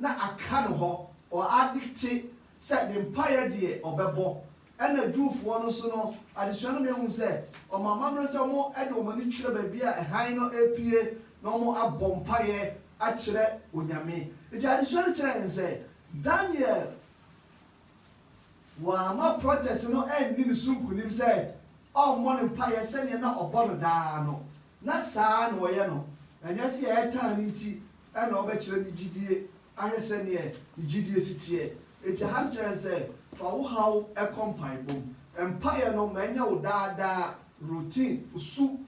Na aka ne hɔ, ɔ addicte sɛ ne mpaeɛ deɛ ɔbɛbɔ. Ɛna Jewfoɔ no nso no, adesua no mɛ hu sɛ wɔn amammerɛ sɛ wɔn de wɔn ani kyerɛ baabi a hann no repue na wɔn abɔ mpaeɛ akyerɛ Onyame. Nti adesua no kyerɛ yɛn sɛ Daniel wamma protɛse no anni ne so nkonim sɛ ɔmmɔ no mpaeɛ sɛdeɛ na ɔbɔ no daa no, na saa ara na ɔyɛ no. Ɛnyɛ sɛ yɛtaa no nti na ɔbɛkyerɛ ne gyidie ahwɛ sɛdeɛ ne gyidie si teɛ. Enti Hannah kyerɛ yɛn sɛ, Fa wo haw kɔ mpaebɔ mu. Mpaeɛ no ma ɛnyɛ wo daa daa routine, wo su,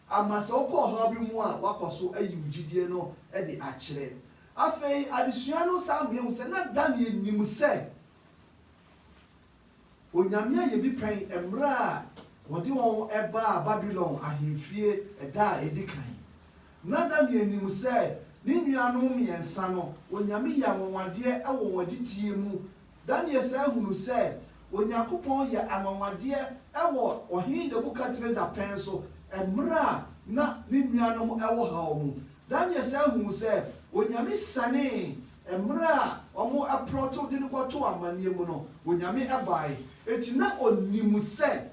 Ama sɛ wokɔ ɔhaw bi mu a, woakɔ so ayi wo gyidie no de akyerɛ. Afei adesua no san ma yɛhu sɛ na Daniel nim sɛ onyame ayɛ bi pɛn mmerɛ a wɔde wɔn baa Babilon ahemfie da a ɛdi kan. Na Daniel nim sɛ ne nuanom mmiɛnsa no, onyame yɛ anwanwadeɛ wɔ wɔn adidie mu Daniel san hunuu sɛ Onyankopɔn yɛ anwanwadeɛ wɔ Ɔhene Nebukadresar pɛn so mmerɛ a na ne nuanom wɔ haw mu. Daniel san hunuu sɛ Onyame sianee mmerɛ a wɔplɔto de no kɔtoo amaneɛ mu no, Onyame bae. Enti na ɔnim sɛ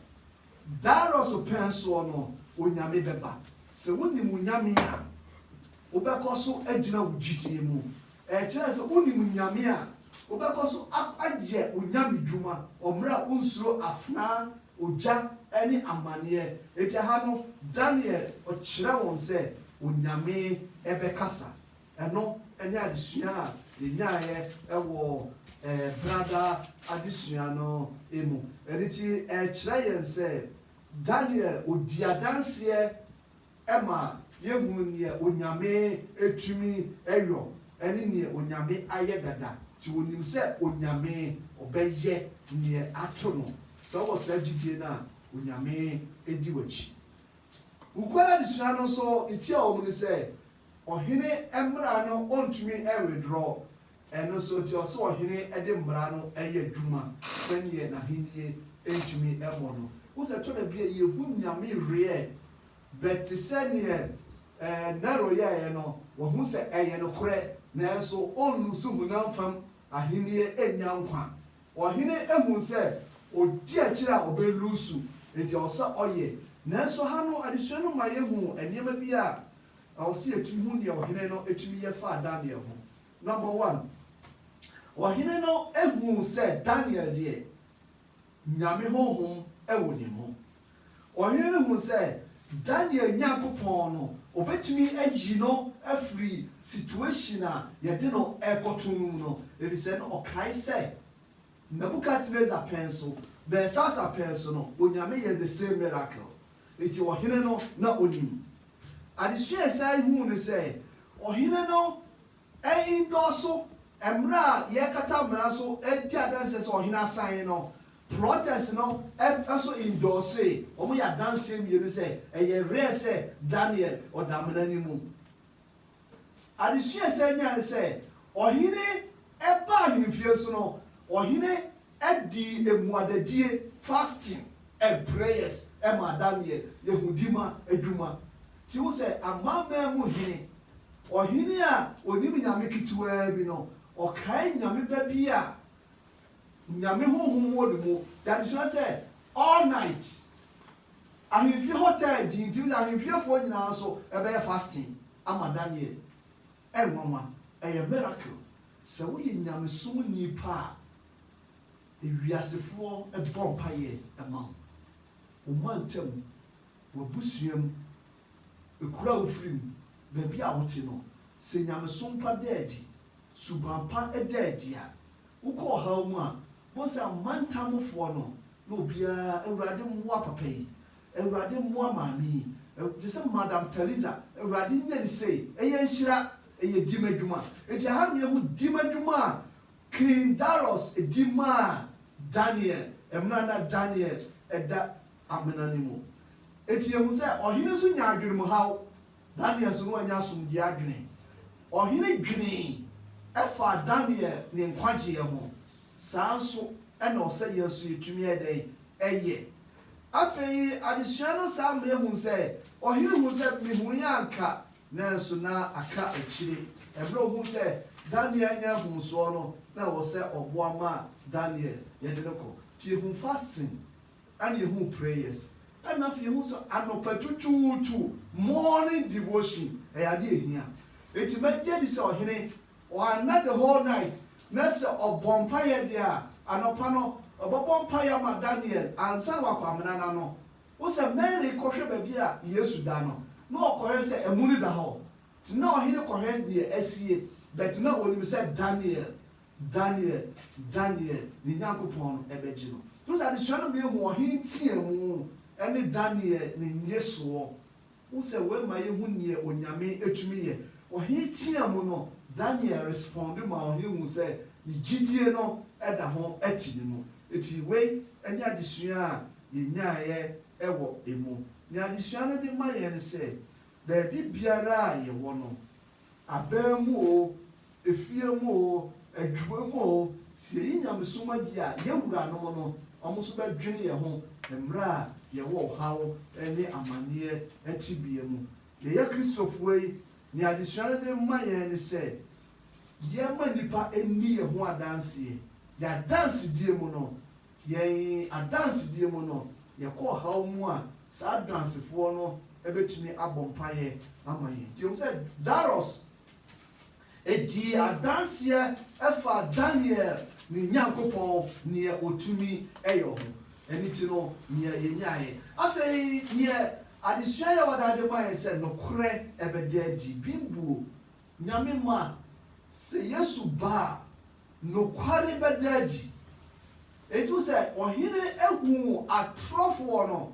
Darius pɛn soɔ no Onyame bɛba. Sɛ wonim wo Nyame a. Wobɛkɔ so agyina wo gyidie mu. Ɛkyerɛ sɛ wonim Nyame a, wobɛkɔ so ayɛ wo nyamedwuma wɔ mmerɛ a wonsuro afenaa, ogya ne amaneɛ. Enti ɛha no, Daniel ɔkyerɛ wɔn sɛ Onyame bɛkasa. Ɛno ne adesua a yɛnyaeɛ wɔ Brada adesua no mu. Ɛno nti ɛkyerɛ yɛn sɛ Daniel ɔdi adanseɛ ɛma yɛhunu neɛ Onyame ɛtumi ɛyɔ ɛne neɛ Onyame ayɛ dada nti ɔnim sɛ Onyame ɔbɛyɛ neɛ ato no sɛ wowɔ saa gyidie no a Onyame ɛdi wakyi Wukuada adesua no nso ne tia wɔ mu ne sɛ Ɔhene mmra no ɔntumi ɛnwedraw Ɛno nso nti, ɔse ɔhene de mmara no yɛ adwuma sɛdeɛ n'ahennie ntumi mmɔ no. Wohu sɛ ɛtɔ da bi a yɛhu Nyame reɛ, but te sɛ neɛ Nero yɛeɛ no, wahu sɛ ɛyɛ nokorɛ, nanso ɔnlusu honam fam ahennie ɛnnya nkwa. Ɔhene hu sɛ ɔdi akyire a ɔbɛlusu, nti ɛwɔ sɛ ɔyɛ. Nanso ha no adesua no ma yɛhu nneɛma bi a ɛwɔ sɛ yɛtumi hu deɛ ɔhene no tumi yɛ faa Daniel ho. Number one, ɔhene no huu sɛ Daniel deɛ, Nyame honhom wɔ ne mu. Ɔhene no huu sɛ Daniel Nyankopɔn no, ɔbɛtumi ayi no afiri situation a yɛde no rekɔto no mu no, efisɛ na ɔkae sɛ Nebuchadnezzar pɛn so, Belshazzar pɛn so no, Onyame yɛ the same miracle. Enti ɔhene no na onim. Adesua a ɛsan yi ho ne sɛ, ɔhene no nnɔɔso. Mmere a yɛrekata mmara so di adanse sɛ ɔhene asan no, plotters no nso nnɔɔsoe. Wɔyɛ adanse mmienu sɛ ɛyɛ rare sɛ Daniel ɔda amena no mu. Adesua a ɛsan nyae ne sɛ, Ɔhene baa ahemfie so no, ɔhene dii mmuadadie, fasting and prayers, maa Daniel yehudi ma adwuma. Nti wohu sɛ amanaman mu hene, ɔhene a ɔnim nyame ketewaa bi no, ɔkae nyame ba bi a nyame honhom wɔ ne mu. Nti adesua sɛ, all night. Ahemfie hotel gye ntim sɛ ahemfiefoɔ nyinaa nso bɛyɛ fasting ama Daniel. Ɛnwanwa, ɛyɛ miracle sɛ woyɛ nyamesom ni pa a ewiasefoɔ bɔ mpaeɛ ma wo. Wo mantam, w'abusua mu, kuro a wofiri mu, baabi a wote no, sɛ nyamesom pa da adi, suban pa da adi a, wokɔ ɔhaw mu a, Bohu sɛ amantam mufoɔ no ne obiara awurade mmoa papa yi awurade mmoa maame yi te sɛ madam Theresa awurade nyɛ no sei ɛyɛ nhyira ɛyɛ dim adwuma enti aha no yɛhu dim adwuma a king Daros di maa Daniel ɛmena na Daniel ɛda amena no mu enti yɛhu sɛ ɔhene nso nya adwenem haw Daniel so no annya asomdwoeɛ adwene. Ɔhene dwenee faa Daniel ne nkwagyeɛ ho. Saa ara nso na ɔsɛ yɛn nso yɛtumi yɛ dɛn yɛ. Afei adesua no saa ma yɛhunu sɛ, ɔhene hunuu sɛ, Mehunuiɛ anka, nanso na aka akyire. Ɛberɛ a ɔhunuu sɛ Daniel anya nhunsoɔ no, na ɛwɔ sɛ ɔboa ma Daniel yɛde no kɔ. Nti hu fasting Ana yɛhuu prayers. Ɛna afei yɛhuu sɛ anɔpa twutwuutwu, morning devotion, ɛyɛ adeɛ a ɛhia. Enti magye adi sɛ ɔhene, wanna the whole night, na sɛ ɔbɔ mpaeɛ deɛ a, anɔpa no, ɔbɛbɔ mpaeɛ ama Daniel ansa na wakɔ amena no ano. Wo sɛ Mary kɔhwɛ baabi a Yesu da no, na ɔkɔhwɛ sɛ amu no da hɔ. Nti na ɔhene kɔhwɛ deɛ asie, but na ɔnim sɛ Daniel Daniel, Daniel, ne Nyankopɔn no bɛgye no. Nso adesua no mia hu ɔhe nteamu ne Daniel ne nnyesoɔ. Wohu sɛ wei ma yɛhu neɛ Onyame tumi yɛ. Ɔhe teamu no, Daniel responde ma ɔhe hu sɛ ne gyidie no da ho te ne mu. Enti wei ne adesua a yɛnyaeɛ wɔ emu. Neɛ adesua no de ma yɛn ne sɛ, baabi biara a yɛwɔ no, aban mu oo, efie mu oo, adwuma mu oo, sɛ yɛyi nyamesom adi a, yɛn wuranom no, wɔn nso bɛdwene yɛn ho mmerɛ a yɛwɔ ɔhaw ne amanneɛ tebea mu. Yɛyɛ Kristofoɔ yi, nea adesua no de ma yɛn ne sɛ, yɛmma nnipa nni yɛn ho adanseɛ. Yɛn adansedie mu no, Yɛn adansedie mu no, yɛkɔ ɔhaw mu a, saa adansefoɔ no bɛtumi abɔ mpaeɛ ama yɛn. Nti yɛhu sɛ Darius dii adanseɛ faa Daniel ne Nyankopɔn deɛ ɔtumi yɛ ho. Ɛno nti no, deɛ yɛnyaeɛ. Afei deɛ adesua yi a wɔde ade ma yɛn sɛ, Nokorɛ bɛda adi. Bimbuo Nyame mma, sɛ Yesu ba a, nokware bɛda adi. Enti wohu sɛ ɔhene huu atorɔfoɔ no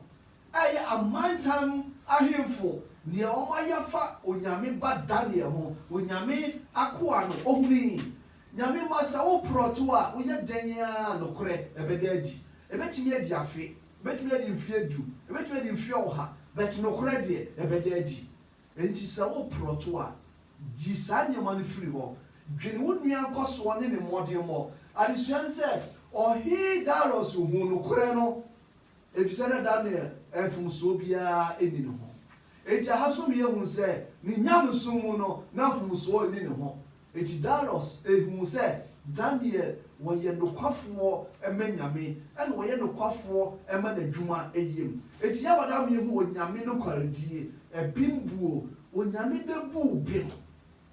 a ɛyɛ amantam ahemfo, deɛ wɔayɛ afa Onyame ba Daniel ho, Onyame akoa no, ɔhunui. Nyame mma, sɛ wo prɔto a, woyɛ dɛn a nokorɛ bɛda adi? Ɛbɛtumi adi afe, ɛbɛtumi adi mfeɛ du, ɛbɛtumi adi mfeɛ ɔha, but nokorɛ deɛ ɛbɛda adi. Enti sɛ woreprɔto a, gye saa nneɛma no firi hɔ. Dwene wo nua nkɔsoɔ ne ne mmɔdemmɔ. Adesua ne sɛ, Ɔhene Darius huu nokorɛ no, efisɛ na Daniel mfomsoɔ biara nni ne ho. Enti aha nso yɛhu sɛ, ne nyamesom mu no, na mfomsoɔ nni ne ho. Enti Darius huu sɛ Daniel wɔyɛ nokwafoɔ ma Nyame, ɛna wɔyɛ nokwafoɔ ma N'adwuma yɛm. Enti yɛabada me hu Onyame nokwaredie, bem buo, Onyame bɛbu wo bem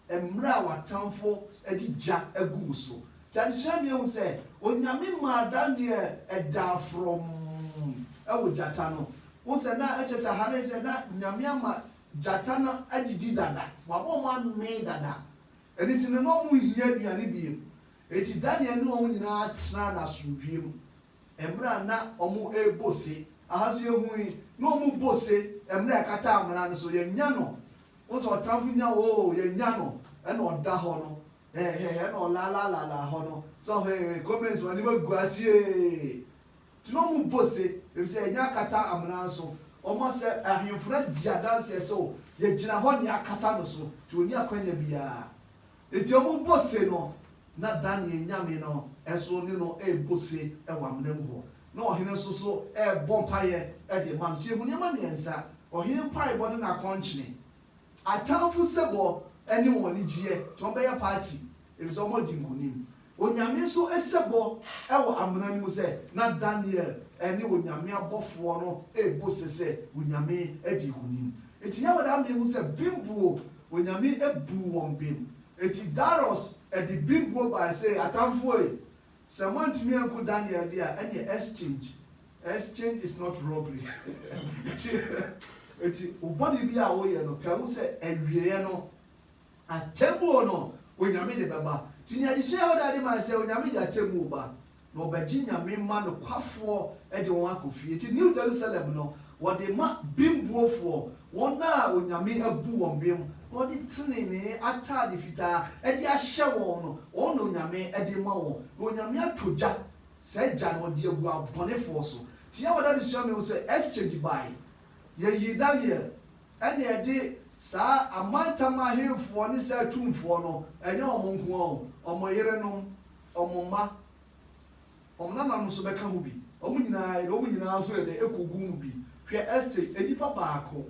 mmerɛ a w'atamfo de gya agu wo so. Nti adesua me ahu sɛ Onyame maa Daniel daa frɔmm wɔ gyata no ho sɛ na ɛkyerɛ sɛ ha no sɛ na Nyame ama Gyata no adidi dada, wabɔ wɔn amee dada, ɛno nti no na wɔnhia aduane bio. Enti Daniel ne wɔn nyinaa tenaa no asomdwoeɛ mu. Mmerɛ a na wɔrebɔ ose, aha nso yɛhu yi, na wɔrebɔ ose, mmerɛ a ɛkata amena no so, yɛnya no, wohu sɛ ɔtamfo nya wo oo, yɛnya no, ɛna ɔda hɔ no, hɛɛhɛɛ, ɛna ɔlaalaalaala hɔ no, sɛ wohu, ee, comments, w'anim agu ase ee. Nti na ɔmo bɔ se, efisɛ yɛnnya akata amena nso. Ɔma sɛ ahemfo no gye adanseɛ sɛ o, yɛgyina hɔ nea akata no so, nti ɔnni akwanya biara. Nti ɔmo bɔ se no, na Daniel Nyame no nso ne no rebɔ se wɔ amena mu hɔ. Na ɔhene nso so rebɔ mpaeɛ de rema no. Nti hu nneɛma mmiɛnsa, ɔhene mpaebɔ ne n'akɔnkyene, Atamfo sebɔ ne wɔn anigyeɛ nti wɔbɛyɛ party efisɛ wɔadi nkonim. Onyame nso sebɔ wɔ amena no mu sɛ na Daniel ne Onyame abɔfoɔ no rebɔ ose sɛ Onyame adi nkonim. Enti Yahweh de ama yɛahu sɛ bembuo, Onyame buu wɔn bem. Enti Darius de bembuo baeɛ sɛ, Atamfo ei, Sɛ moantumi anku Daniel deɛ a, ɛneɛ exchange, exchange is not robbery, kyeɛ. Enti wo bɔne biara a woyɛ no, kae hu sɛ awieɛ no, atemmuo no, Onyame de bɛba. Nti neɛ adesua a wodaa de mae sɛ, Onyame de atemmuo ba, na ɔbɛgye Nyame mma nokwafoɔ de wɔn akɔ fie. Nti New Jerusalem no, wɔde ma bembuofoɔ, wɔn a Onyame abu wɔn bem wɔde trenee atade fitaa de ahyɛ wɔn no, wɔn na Onyame de rema wɔn, na Onyame atɔ gya, saa gya no, ɔde agu abɔnefoɔ so. Nti yɛn wɔ adesua mu yi ho sɛ, exchange baeɛ, yɛyii Daniel, ɛna yɛde saa amantam ahemfoɔ ne saa atumfoɔ no, ɛnyɛ wɔn nko ara o, wɔn yerenom, wɔn mma, wɔn nananom nso bɛka ho bi, wɔn nyinaa, yɛde wɔn nyinaa nso yɛ dɛn, ɛkɔguu mu bi. Hwɛ, exchange, nnipa baako.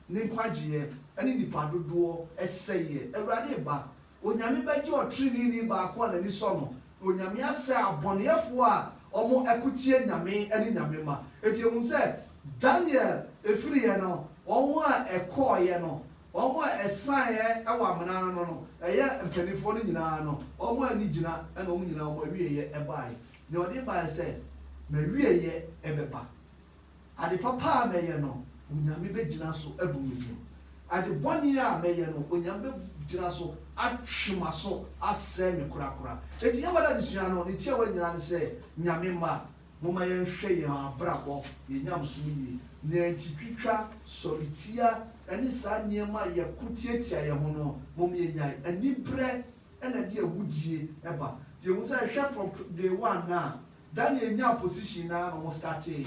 Ne nkwagyeɛ ne nnipa dodoɔ sɛeɛ. Awurade reba. Onyame bɛgye ɔtreneeni baako a n'ani sɔ no. Onyame asɛe abɔneɛfoɔ a wɔko tia Nyame ne Nyame mma. Enti yɛhunu sɛ Daniel firiiɛ no, wɔn a ɛkɔeɛ no, wɔn a ɛsaneɛ wɔ amena no no, ɛyɛ mpaninfoɔ no nyina ara no, wɔn a ani gyina na wɔn nyina ara wɔn awieɛ baeɛ. Deɛ ɔde baeɛ sɛ, M'awieɛ bɛba. Ade papa a mɛyɛ no, Onyame bɛgyina so abu me fɔ. Ade bɔne a mɛyɛ no, Onyame bɛgyina so atwe m'aso asɛe me korakora. Enti Yawada adesua no, ne tiawa nyinaa ne sɛ, Nyame mma, momma yɛnhwɛ yɛn abrabɔ, yɛn nyamesom yie. Nea enti twitwa, sɔretia, ne saa nneɛma a yɛko tiatia yɛn ho no, mom yɛnyae. Anibrɛ na ɛde awudie ba. Nti yɛhu sɛ hwɛ from day one no a, Daniel nyaa position no ara na wɔstartee.